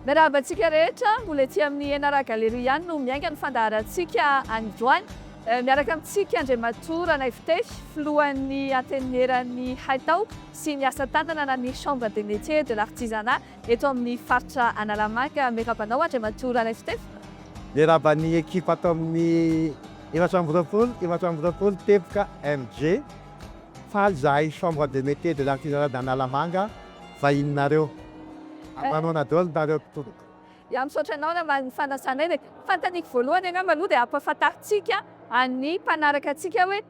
Miarahaba antsika rehetra, mbola ety amin'ny Enara Gallery ihany no miainga ny fandaharantsika an'ndroany. Miaraka amintsika Andriamatoa Ranaifitefy, filohan'ny Antenimieran'ny Haitao sy ny asa tanana na ny Chambre des Métiers et de l'Artisanat eto amin'ny faritra Analamanga. Miarahaba anao Andriamatoa Ranaifitefy. Miarahaba ny ekipa ato amin'ny efatra amby roapolo, efatra amby roapolo teboka MJ. Faly izahay Chambre des Métiers et de l'Artisanat d'Analamanga. vahininareo. Angano ana dol ndareo mpitoroka. Ya misaotra anao naman'ny fanasanay de fantaniko voalohany angamba aloha de ampafantarintsika an'ny mpanaraka antsika hoe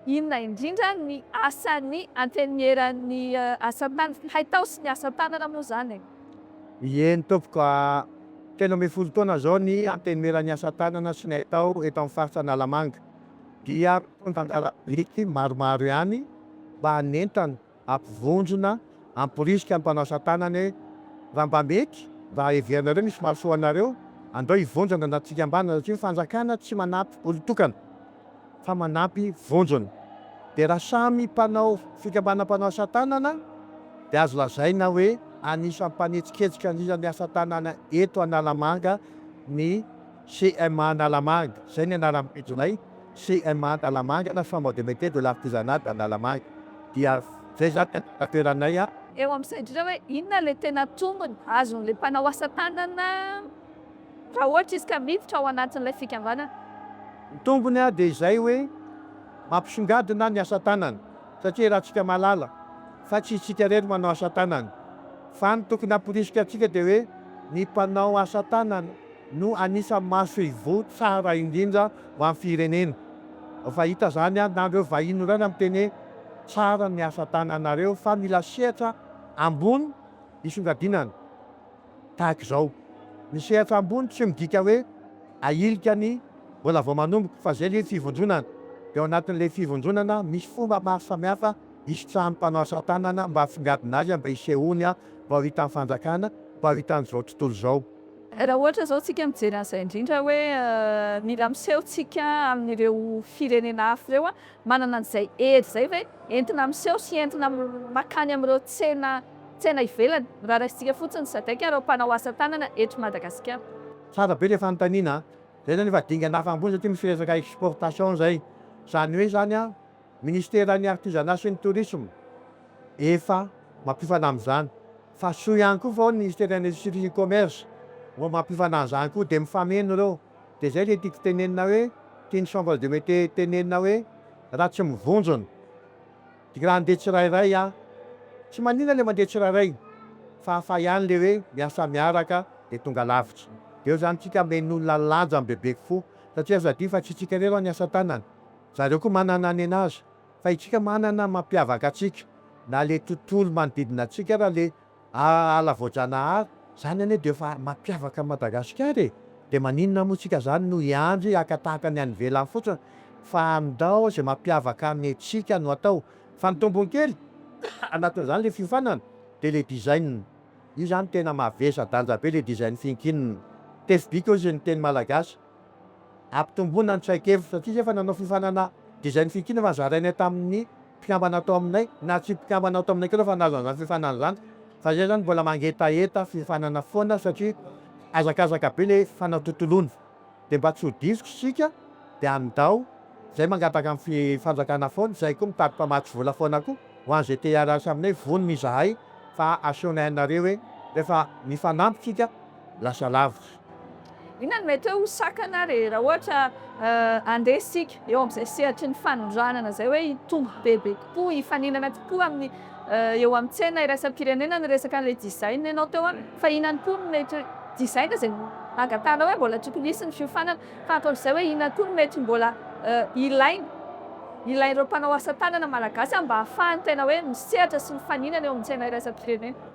inona indrindra ny asan'ny antenimieran'ny asatanana, haitao sy ny asatanana moa zany e. Ieny tompoko a! Telo ambin'ny folo taona zao ny antenimieran'ny asatanana sy ny haitao eto amin'ny faritra Analamanga dia mitondra anjara biriky maromaro ihany mba hanentana Ampivondrona, amporisika ny mpanao satanana e! Raha mba mety, raha heverinareo misy mahasoa anareo, andao hivondrona ny anaty fikambanana satria ny fanjakana tsy manampy olon-tokana fa manampy vondrona. Dia raha samy mpanao fikambanana mpanao asa tanana dia azo lazaina hoe anisan'ny mpanetsiketsika indrindra ny asa tanana eto Analamanga ny. CMA Analamanga, izay ny anaran'ny pejinay, CMA Analamanga na Chambre de Métier de l'Artisanat d'Analamaga, dia izay izany ny anjara toeranay a. Eo amin'ny saintsika hoe inona ilay tena tombony azon'ilay mpanao asa tanana raha ohatra izy ka miditra ao anatin'ilay fikambanana? Ny tombony dia izay hoe mampisongadina ny asa tanana satria iarahantsika mahalala fa tsy isika irery no manao asa tanana fa ny tokony hamporisika antsika dia hoe ny mpanao asa tanana. no anisan'ny masoivoho tsara indrindra ho an'ny firenena. Efa hita izany ary na ireo vahiny ireo aza miteny hoe tsara ny asa tananareo fa mila sehatra ambony hisongadinana tahaka izao. Ny sehatra ambony tsy midika hoe ahilika ny mbola vao manomboka fa izay ilay fivondronana. Dia ao anatin'ilay fivondronana misy fomba maro samihafa hisitrahan'ny mpanao asa tanana mba hahatsongadina azy mba hisehoany mba ho hitan'ny fanjakana, mba ho hitan'izao tontolo izao. Raha ohatra izao tsika mijery an'izay indrindra hoe mila miseho tsika amin'ireo firenena hafa ireo, manana an'izay hery izay ve entina miseho sy entina makany amin'ireo tsena tsena ivelany raha raisintsika fotsiny ny sadec ireo mpanao asa tanana eto Madagasikara? Tsara be le fanontaniana a! Zay zany efa dingana hafa ambony satria misy resaka exportation zay. Zany hoe zany a! Ministeran'ny Artisanat sy ny Tourisme efa mampiofana amin'izany fa soa ihany koa fa ao ny Ministeran'ny Industrie sy ny Commerce vao mampiofana an'izany koa dia mifameno ireo. Dia izay ilay tiako tenenina hoe, tian'ny Chambre de Métiers tenenina hoe, raha tsy mivonjona dia raha handeha tsirairay aho, tsy manina ilay mandeha tsirairay fa hafa ihany ilay hoe miasa miaraka dia tonga lavitra. Dia eo izany tsika men'olona lanjany bebe kofo satria aza adino fa tsy tsika irery aho ny asa tanana Zareo koa manana ny anazy. Fa itsika manana mampiavaka atsika. Na le tontolo manodidina atsika ara le ala voajanahary. Zany anie de efa mampiavaka an'i Madagasikara e. De maninona moa tsika zany no hiandry haka tahaka ny any ivelany fotsiny. Fa andao ze mampiavaka ny atsika no atao. Fa ny tombony kely anatin'izany le fiofanana de le design. Io zany tena mavesa danja be le design finkinina. Tefy bika ozy ny teny malagasy. Ampitomboina ny traikefa satria izy efa nanao fifanana dia izay ny fintinana efa zarainay tamin'ny mpikambana tao aminay na tsy mpikambana ao taminay koa efa nahazo an'izany fifanana izany fa izay izany mbola mangetaheta fifanana foana satria hazakazaka be ilay fanatontoloana dia mba tsy ho diso isika dia andao izay mangataka amin'ny fanjakana foana izay koa mitady mpamatsy vola foana koa ho an'izay te hiara-hiasa aminay vonona izahay fa asehonay anareo hoe rehefa mifanampy isika lasa lavitra. Inona no mety hoe ho sakana ary raha ohatra handeha isika eo amin'izay sehatry ny fanondranana izay hoe hitombo bebe kokoa, hifaninana kokoa amin'ny eo amin'ny tsena iraisam-pirenena ny resaka an'ilay design ianao teo an, fa inona ihany koa no mety design izay nangatahanao hoe mbola tokony hisy ny fiofanana fa ankoatr'izay hoe inona koa no mety mbola ilaina ilain'ireo mpanao asa tanana malagasy an mba hahafahany tena hoe misehatra sy mifaninana eo amin'ny tsena iraisam-pirenena.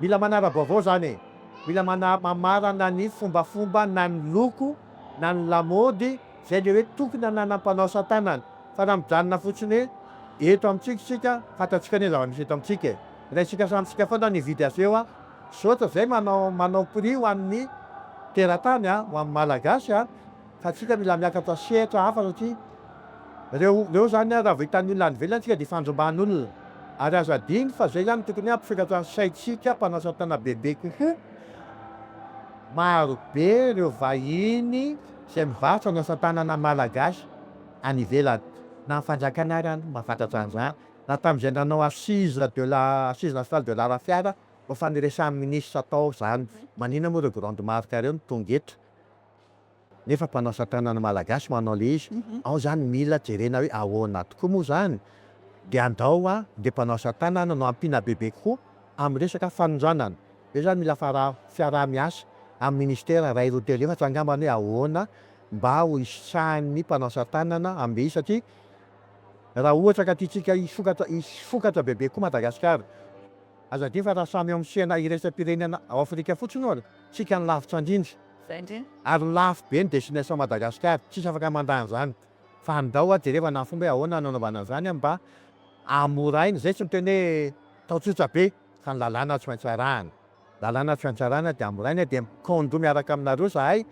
Mila manara-baovao zany e! Mila manamarana ny fombafomba na ny loko na ny lamaody zay le hoe tokony ananan'ny mpanao asatanana fa raha mijanona fotsiny hoe eto amintsika isika fantatsika ny zava-misy eto amintsika e! Raisika samy isika foana ny hividy azy eo a! Misaotra zay manao prix ho an'ny teratany a! Ho an'ny malagasy a! Fa tsika mila miakatra sehatra hafa satria reo reo zany a raha vao hitan'ny olona any ivelany tsika de fandrombahan'olona ary aza adino fa zay zany tokony hampisokatra ny saintsika mpanasa tana bebe kokoa maro be reo vahiny zay mivarotra ny asa tanana malagasy any ivelany na ny fanjakana ary any mba fantatra an'zany na tam'zay nanao assise de la assise nationale de l'art fiara mba faniresahan'ny ministra tao zany maninona moa reo grande marque reo no tonga eto. nefa mpanao asa tanana malagasy manao le izy, ao zany mila jerena hoe ahoana tokoa moa zany, de andao a le mpanao asa tanana no ampiana bebe kokoa amin'ny resaka fanondranana, io zany mila fara- fiaraha-miasa amin'ny ministera ray roa telo efatra angambany hoe ahoana mba ho hisitrahan'ny mpanao asa tanana amle izy satria raha ohatra ka tiantsika hisokatra hisokatra bebe kokoa Madagasikara, aza adino fa raha samy eo amin'ny sehana iraisam-pirenena ao Afrika fotsiny ohatra, tsika no lavitra ndrindra. Ary lafo be ny destination Madagascar, tsisy afaka mandà an'izany. Fa andao hoa jereva na fomba hoe ahoana no anaovana an'izany mba hamorahina, izay tsy miteny hoe atao tsotra be fa ny lalàna tsy maintsy arahana. Lalàna tsy maintsy arahana dia amorahina dia mi-condo miaraka aminareo izahay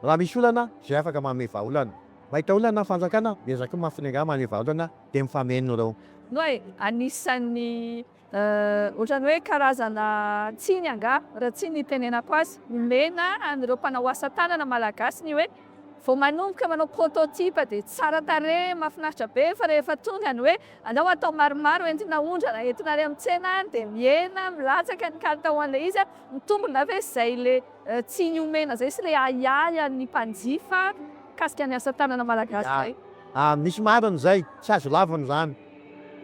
raha misy olana izay afaka manome vahaolana. Mahita olana ny fanjakana, miezaka koa mafy ny angaha manome vahaolana dia mifameno ireo. Noa e, anisan'ny Ohatran'ny hoe karazana tsiny angaha, raha tsy ny itenenako azy. Omena an'ireo mpanao asa tanana malagasy ny hoe vao manomboka manao prototype dia tsara tarehy, mahafinaritra be, fa rehefa tonga ny hoe aleo atao maromaro entina aondrana, entina any amin'ny tsena any dia mihena, milatsaka ny kalitaon'ilay izy, mitombina ve izay ilay tsiny omena izay sy ilay ahiahy an'ny mpanjifa mikasika ny asa tanana malagasy izay? Misy marina izay, tsy azo lavina izany.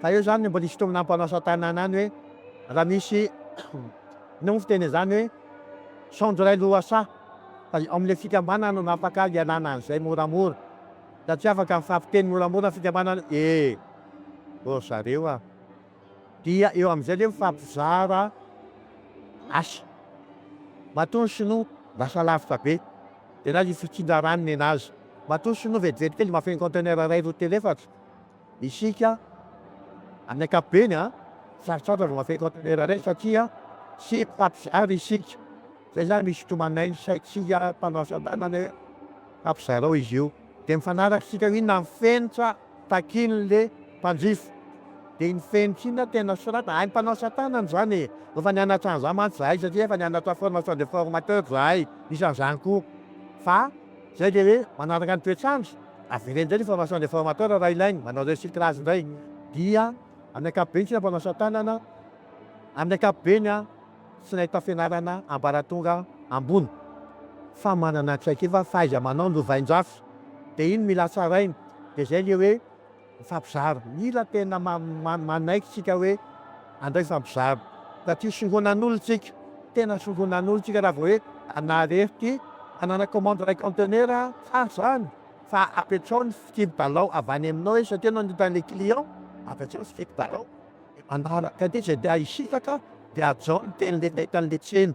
Fa eo zany mbola isintomina ny mpanao asa tanana any hoe raha misy no fiteny an'izany hoe saonjo iray lohasaha fa ao amin'ilay fikambanana no afaka hialana an'izay moramora ka tsy afaka mifampiteny moramora ny fikambanana ee ô zareo a! Dia eo amin'izay ilay mifampizara asa. Matoa ny sinoa lasa lavitra be dia na ny fitsindrarany nenazy. Matoa ny sinoa vetivety kely mba feno conteneur iray roa telo efatra. Isika amin'ny ankapobeny, sarotrarotra vao mahafehy kaontenera iray satria tsy mpampizaly isika. Izay izany misy tomanainy ny saintsika mpanao asa tanana hoe ampizarao izy io. Dia mifanaraka isika inona ny fenitra takian'ilay mpanjifa. Dia iny fenitra iny no tena soratana. Hain'ny mpanao asa tanana izany e! Efa nianatra an'izany mantsy izahay satria efa nianatra formation de formateur izahay, isan'izany koa. Fa izay dia hoe manaraka ny toetr'andro. Avereno indray ny formation des formateurs raha ilainy manao recyclage indray dia amin'ny ankapobeny tsy nampanao asa tanana amin'ny ankapobeny an tsy nahita fianarana ambaratonga ambony fa manana traikefa fahaiza-manao novain-jafy dia iny mila tsaraina dia izay ilay hoe Mifampizara. Mila tena manaiky tsika hoe andao hifampizara satria soronan'olo tsika, tena soronan'olo tsika raha vao hoe Zanahary ery ty hanana commande iray conteneur a! Tsara zany fa apetraho ny fikiry dalao avy any aminao e! Satria ianao no mitady le client, apetraho ny fikiry dalao de manaraka aty zay te hisitraka de hajao ny teny le mety an'le tsena.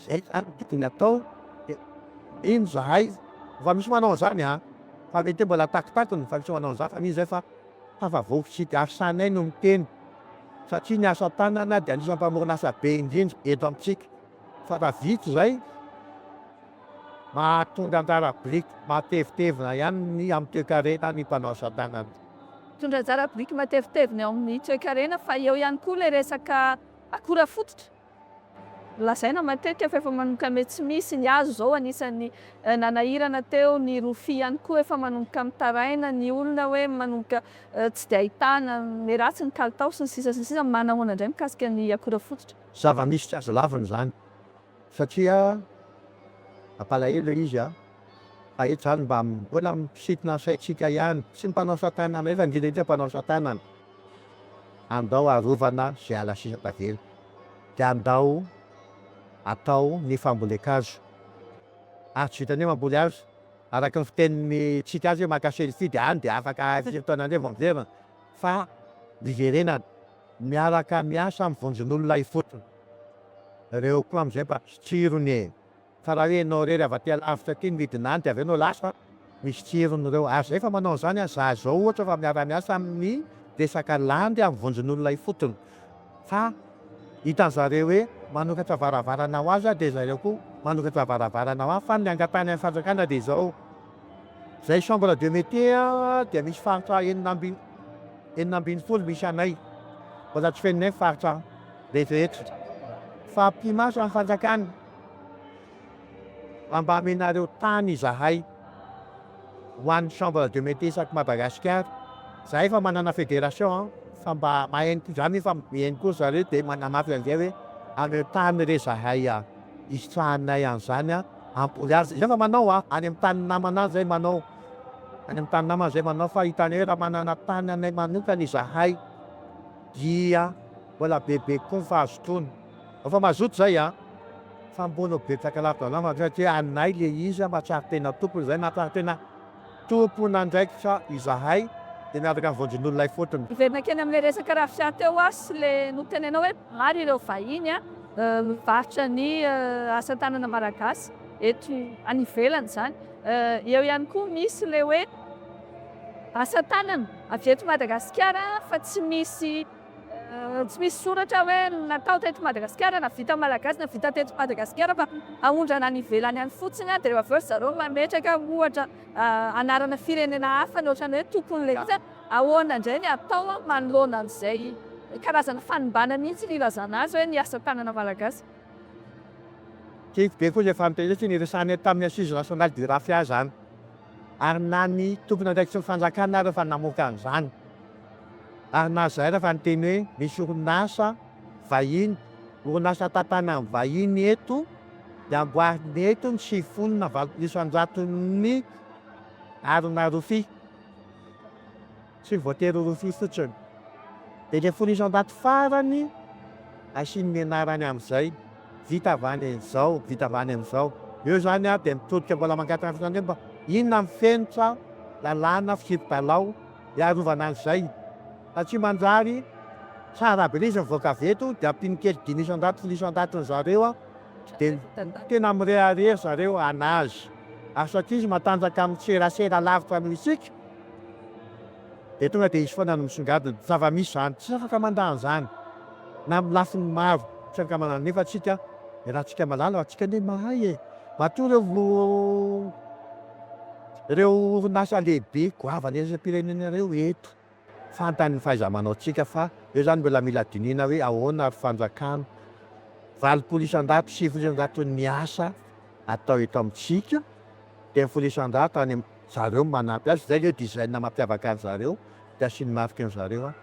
Zay zany no tokony atao de mino zahay fa misy manao an'zany a! fa mety hoe mbola takitakiny fa misy manao an'zany fa mino zahay fa tafavoaka sy diasanay no miteny satria ny asa tanana dia anisan'ny mpamorona asa be indrindra eto amintsika fa raha vita izay mahatonga anjara biriky matevitevina ihany ny amin'ny toekarena ny mpanao asa tanana. Mitondra anjara biriky matevitevina eo amin'ny toekarena fa eo ihany koa ilay resaka akora fototra. Lazaina matetika fa efa manomboka miha tsy misy ny hazo izao, anisan'ny nanahirana teo ny rofia ihany koa, efa manomboka mitaraina ny olona hoe manomboka tsy dia ahitana, miharatsy ny kalitao sy ny sisa sy ny sisa, manahoana indray mikasika ny akora fototra? Zava-misy tsy azo lavina izany satria mampalahelo izy an! Fa eto izany mba mbola misintona ny saintsika ihany, tsy ny mpanao satanana, efa ngita hita ny mpanao satanana. Andao arovana izay ala sisa tavela, dia andao atao ny fambolen-kazo. Ary tsy vitan'ny hoe mamboly hazo, araka ny fitenin'ny tsika azy hoe maka selfie dia any dia afaka firy taona indray vao miverina, fa hiverenana, miaraka miasa amin'ny vonjin'olona ifotony. Ireo koa amin'izay mba tsirony e! Fa raha hoe ianao irery avy aty alavitra aty no midina any dia avy eo no lasa an! misy tsirony ireo. Ary izay efa manao an'izany an! Za izao ohatra efa miara-miasa amin'ny resaka landy amin'ny vondron'olona ifotony fa hitan'ny zareo hoe manokatra varavarana ho azy aho dia zareo koa manokatra varavarana ho ahy fa ny angatahin' ny fanjakana dia izao, izay chambre de métier an dia misy faritra enina amby enina ambin'ny folo misy anay, mbola tsy fenonay ny faritra rehetrarehetra fa mpimasa ny fanjakana. Fa mba amenareo tany izahay ho an'ny chambre de metis aty Madagasikara, za efa manana federation an, fa mba mahay koa za nefa mihaino koa zareo de manamafy an'izay hoe ameo tany re zahay an, hisitrahanay an'izany an, hamboly azy, zay efa manao an, any amin'ny tanin'ny namana any zay manao, any amin'ny tanin'ny namana zay manao, fa hitanay hoe raha manana tany anay manokana izahay dia mbola bebe kokoa ny fahazotoana. Efa mazoto zay an! Fa mbôla betsaka ladala mandray ake anay le izy an! Mahatsiaro tena tompony zay, mahatsiaro tena tompon'andraikitra izahay de miaraka am vondron'olona ifotony. Hiverina kely amin'ilay resaka rafia teo aho sy le notenenao hoe maro ireo vahiny an, mivarotra ny asatanana malagasy eto any ivelany zany. Eo ihany koa misy le hoe asatanana avy eto Madagasikara fa tsy misy. Tsy misy soratra hoe natao teto Madagasikara na vita malagasy na vita teto Madagasikara fa aondrana any ivelany any fotsiny dia avy eo ry zareo mametraka ohatra anarana firenena hafa ny ohatran'ny hoe tompon'ilay izy, ahoana indray ny atao manoloana an'izay karazana fanimbana mihitsy ny ilazana azy hoe ny asa tanana malagasy. Tiako be koa izay fampihetsika niresahana tamin'ny Assises Nationales du Raphia izany. ary na ny tompon'andraikitry ny fanjakana ary efa namoaka an'izany ary nahazaina fa niteny hoe misy orinasa vahiny, orinasa tantany amin'ny vahiny eto dia amboarina eto ny sivifolo na valopolo isan-jaton'ny harona rofia. Tsy voatery ho rofia fotsiny. Dia ilay folo isa ndaty farany asiany ny anarany amin'izay, vita avy any amin'izao, vita avy any amin'izao. Eo izany ary dia mitodika mbola mangataka izany hoe mba inona ny fenitra, lalàna, fisipi-dalao hiarovana an'izay. Fa tsy manjary tsara be ilay izy mivoaka avy eto dia ampiany kely dimy isa ndaty, folo isa ndaty ry zareo dia tena mirehareha ry zareo an'azy. Ary satria izy matanjaka amin'ny serasera lavitra noho isika Dia tonga dia izy foana no misongadina. Zava-misy izany. Tsy afaka mandà an'izany na amin'ny lafiny maro tsy ankamanana. Nefa antsika, iarahantsika malala, antsika anie mahay e! Matoa ireo ireo orinasa lehibe goavana iraisam-pirenena ireo eto, fantany ny fahaiza-manaontsika fa eo izany mbola mila dinihina hoe ahoana ary fanjakana valopolo isan-jato, sivy isan-jaton'ny asa atao eto amintsika, telo folo isan-jato any zareo manampy azy, izay le design mampiavaka an zareo de asiany marque ny zareo an!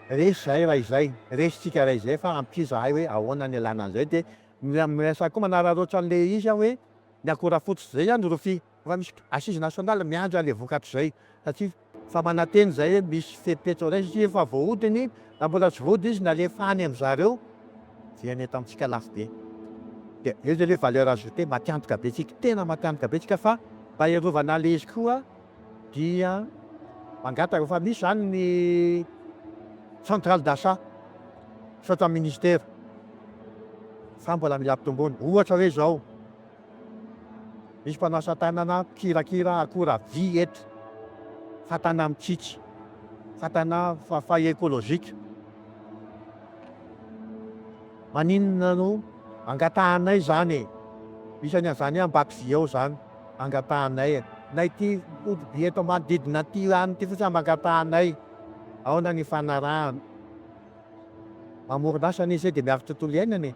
resy zahay raha izay, resy tsika raha izay fa ampio zahay hoe ahoana ny alana an'izay de miresaha koa manararoatra an'le izy an hoe ny akora fototra izay an rofia efa misy assise nationale miandry an'le vokatra izay satria efa manantena izay hoe misy fepetra izay satria efa voahodiny Raha mbola tsy vody izy nalefa any amin-dry zareo dia nety amintsika lafo be. Dia eo izay hoe valeur ajoutée matiantoka be tsika, tena matiantoka be tsika fa mba hiarovana an'ilay izy koa dia mangataka fa misy izany ny centrale d'achat misaotra ny ministera fa mbola mila ampitomboina. Ohatra hoe izao. Misy mpanao asa tanana mpikirakira akora vy eto. Fatana mitsitsy, fatana fafay ekolojika. Maninona no angatahanay zany e? Misy any anzany ambato vy ao zany angatahanay e. Na ity ody vy eto manodidina an ty any ty fotsiny am angatahanay. Aona ny ifanarahana? Mamoron'asa anie zay de miaro tontolo iainana e.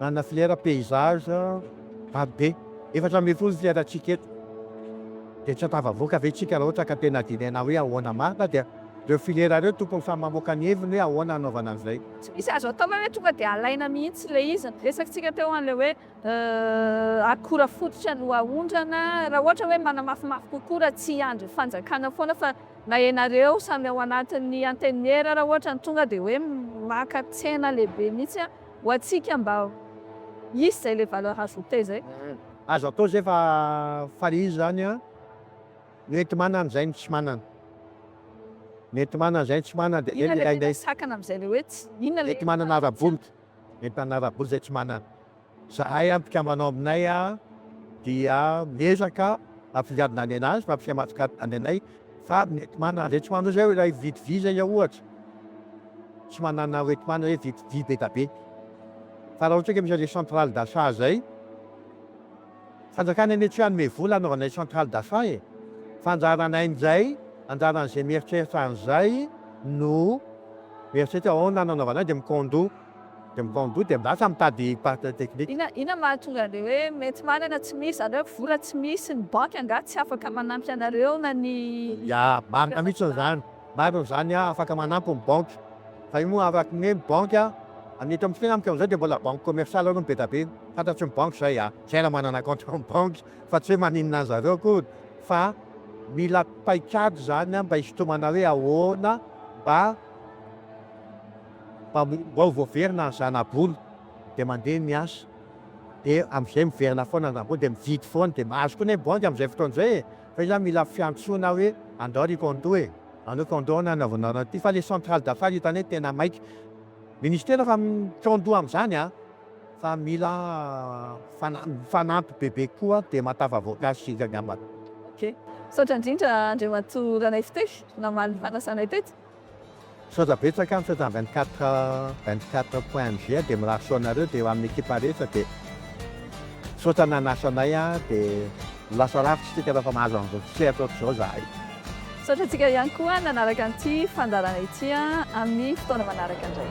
Manana filière paysage maro be, efatra ambin'ny folo ny filière-ntsika eto. Dia tsy ampahavoaka ve isika raha ohatra ka tena dinaina hoe ahoana marina dia ireo filière ireo tokony samy mamoaka ny heviny hoe ahoana hanaovana an'izay. Tsy misy azo atao hoe tonga dia alaina mihitsy ilay izy. Ny resakintsika teo an'ilay hoe akora fototra no aondrana, raha ohatra hoe manamafimafy kokoa raha tsy hiandry fanjakana foana fa. Na ianareo samy ao anatin'ny antenimiera ara ohatra no tonga dia hoe maka tsena lehibe mihitsy an! ho antsika mba hisy izay ilay valeur ajoutée izay. Azo atao izay fa fa le izy izany an, mety manana izay no tsy manana. Mety manana izay no tsy manana dia zay no ilainay. Inona ilay tena sakana amin'izay ilay hoe tsy, inona ilay. Mety manana ara-bola, mety manana ara-bola izay tsy manana. Zahay amin'ny mpikambanao aminay dia miezaka ampifidianana any anazy fa tsy mahatsikaritra any anay fa mety manana izay tsy manana izay ilay mividy visa iza ohatra tsy manana hoe tsy manana hoe vidy vy be da be fa raha ohatra ka misy an'izay centrale d'achat izay fanjakana anie tsy hanome vola hanaovana ilay centrale d'achat e! fa anjaranay amin'izay anjaran'izay mieritreritra an'izay no mieritreritra ahoana no hanaovana dia mi-condo Dia mitaom-bola dia lasa mitady partenaire technique. Inona inona mahatonga anle hoe mety manana tsy misy zany hoe vola tsy misy ny banky angaha tsy afaka manampy anareo na ny. Ya, marina mihitsy izany, marina izany an, afaka manampy ny banky fa io moa araky ny hoe ny banky an, ny eto amintsika amintsika amin'izao dia mbola banque commerciale aloha no be da be, fantatry ny banky izay an, izay raha manana kaonty ao amin'ny banky fa tsy hoe maninona an'i zareo akory fa mila paikady izany an mba hisintomana hoe ahoana mba. Mpamorim-bao voaverina ny zana-bola dia mandeha miasa dia amin'izay miverina foana ny zana-bola dia mividy foana dia mahazo koa anie ny banky amin'izay fotoana izay e! fa izaho mila fiantsoana hoe andao ry condo e! andao condo ny hanaovanao an'ity fa ilay centrale d'affaires hitanay tena maika! Ministera fa condo amin'izany an! fa mila fanampy bebe koa dia matava voankazo isika angambany! Ok! Misaotra indrindra Andriamatoa Ranaivotery namaly ny fanasanay teto. Misaotra betsaka, misaotra ny vingt quatre vingt quatre point MG dia mirary soa anareo dia ho an'ny ekipa rehetra dia misaotra nanasa anay an, dia ho lasa rafitra isika rehefa mahazo an'izao tsisehatra ohatr'izao izahay. Misaotra antsika ihany koa nanaraka an'ity fandaharana ity an, amin'ny fotoana manaraka indray.